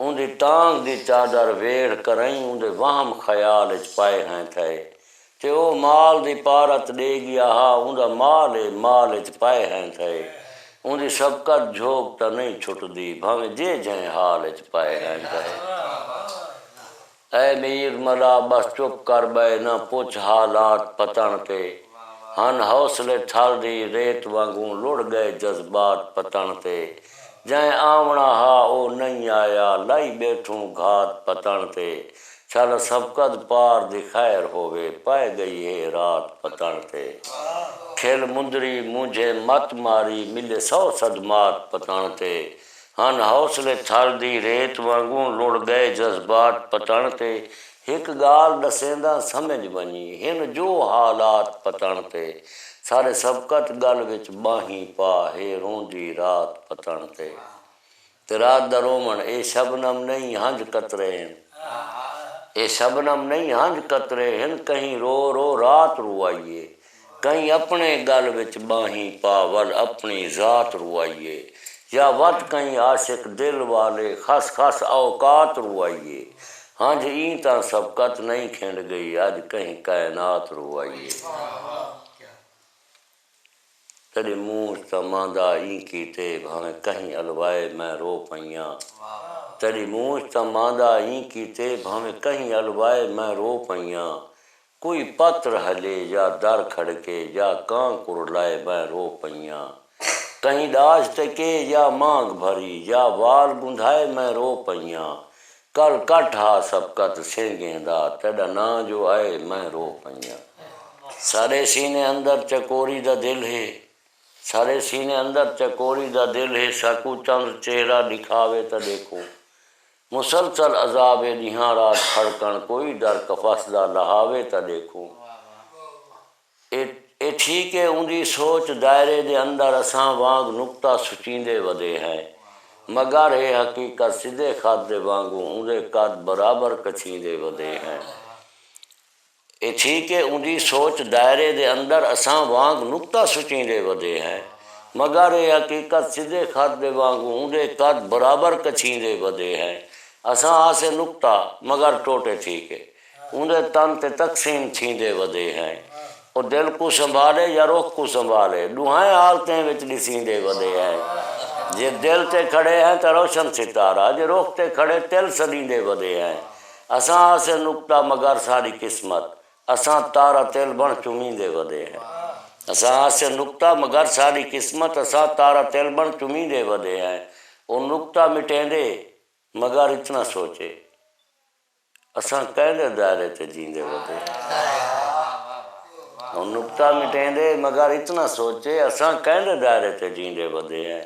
اوندی ٹانگ دی چادر ویڑھ کرئیں اوندے وہم خیال اچ پائے ہئیں تھئے تے او مال دی پارت ڈے گیا ہا اوندا مال اے مال اچ پائے ہئیں تھئے اوندی سبقت جھوک تاں نئیں چھٹدی بھانویں جے جھئیں حال اچ پائے ہئیں تھئے۔ اے میر ملا بس چپ کر بئے نہ پچھ حالات پتن تے ہن حوصلے تھل دی ریت وانگوں لڑھ گئے جذبات پتن تے جئیں آونڑاں ہا او نئیں آیا لائی بیٹھوں گھات پتن تے چھل سبقد پار دی خیر ہووے پائے گئی ہے رات پتن تے کھل مندری مونجھے مت ماری ملے سو صدمات پتن تے۔ ہن حوصلے تھر دی ریت وانگوں لڑ گئے جذبات پتݨ تے ہک ڳالھ ݙسینداں سمجھ ونڄی ہن جو حالات پتݨ تے سارے سبقت ڳل وچ ٻانہیں پا ہے روندی رات پتݨ تے تے رات دا رووݨ اے شبنم نئیں ہنج قطرے ہن اے شبنم نئیں ہنج قطرے ہن کہیں رو رو رات روائیے کہیں اپݨے ڳل وچ ٻانہیں پا ول اپݨی ذات روائیے یا وت کہیں عاشق دل والے خس خس اوقات روائیے ہنجھ ایں تاں سبقت نئیں کھنڈ ڳئی اڄ کہیں کائنات روائیے تیݙے مونہہ اچ تاں ماندا ایں کیتے بھانویں کہیں الوائے میں رو پئیاں تیݙے مونہہ اچ تاں ماندا ایں کیتے بھانویں کہیں الوائے میں رو پئیاں کوئی پتر ہلے یا در کھڑکے یا کاں کرلائے میں رو پئیاں کہیں ڈاج ٹکے یا مانگ بھری یا وال گندھائے میں رو پئیاں کل کٹ ہا سبقت سینگیں دا تیڈا ناں جو آئے میں رو پئیاں ساڈے سینے اندر چکوری دا دل ہے ساڈے سینے اندر چکوری دا دل ہے ساکوں چند چہرہ ڈکھاوے تاں ڈیکھوں مسلسل عذاب اے ݙینہاں رات کھڑکݨ کوئی ݙر قفس دا لہاوے تاں ݙیکھوں اے اے ٹھیک اے اوندی سوچ دائرے دے اندر اساں وانگ نقطہ سٹیندے ودے ہیں مگر اے حقیقت سدھے خط دے وانگوں اوندے قد برابر کچھیندے ودے ہیں اے تھی کہ اوندی سوچ دائرے دے اندر اساں وانگ نکتہ سٹیندے ودے ہیں مگر اے حقیقت سدھے خط دے وانگوں اوندے قد برابر کچھیندے ودے ہیں اساں آسے نکتہ مگر ٹوٹے تھی کے اوندے تن تے تقسیم تھیندے ودے ہیں او دل کوں سنبھالے یا رخ کوں سنبھالے ڈوہائیں حالتیں وچ ڈسیندے ودے ہیں جے دل تے کھڑے ہیں تاں روشن ستارہ جے رخ تے کھڑے تل سڈیندے ودے ہیں اساں آسے نکتہ مگر ساڈی قسمت اساں تارا تل بن چمیندے ودے ہیں اساں آسے نکتہ مگر ساڈی قسمت اساں تارا تل بن چمیندے ودے ہیں او نکتہ مٹیندے مگر اتنا سوچے اساں کیندے دائرے تے جیندے ودے ہیں او نکتہ مٹیندے مگر اتنا سوچے اساں کیندے دائرے تے جیندے ودے ہیں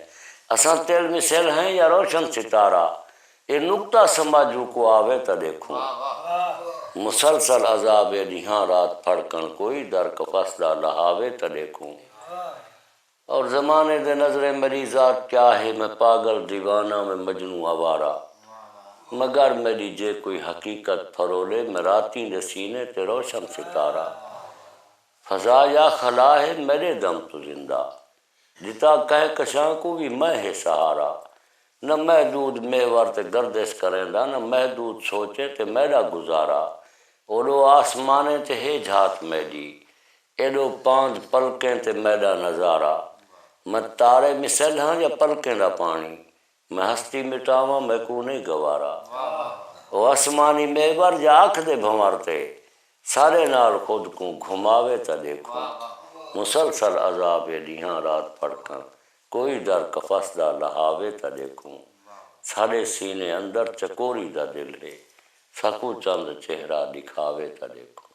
اساں تل مثل ہیں یا روشن ستارہ اے نکتہ سماجوں کو آویں تاں ڈیکھوں۔ مسلسل عذاب اے ڈینہاں رات پھڑ کن کوئی در قفس دا لہاویں تاں ڈیکھوں۔ اور زمانے دے نظریں مریضات کیا ہے میں پاگل دیوانہ میں مجنوں آوارہ۔ مگر میڈی جے کوئی حقیقت پھرولے میں راتیں دے سینے تے روشن ستارہ۔ فضا یا خلا ہے میڈے دم توں زندہ۔ ݙتا کہکشاں کوں وی میں ہے سہارا نہ محدود محور تے گردش کریندا نہ محدود سوچیں تے میݙا گزارا اوݙو آسمانیں تے ہے جھات میݙی ایݙو پاند پلکیں تے میݙا نظارا میں تارے مثل ہاں یا پلکیں دا پاݨی میں ہستی مٹاواں میکوں نئیں گوارا او آسمانی محور جا اکھ دے بھنور تے سارے نال خود کوں گھماوے تاں ڈیکھوں مسلسل عذاب اے ڈینہاں رات پڑکن کوئی در قفس دا لہاوے تاں ڈیکھوں ساڈے سینے اندر چکوری دا دل ہے ساکوں چند چہرہ ڈکھاوے تاں ڈیکھوں۔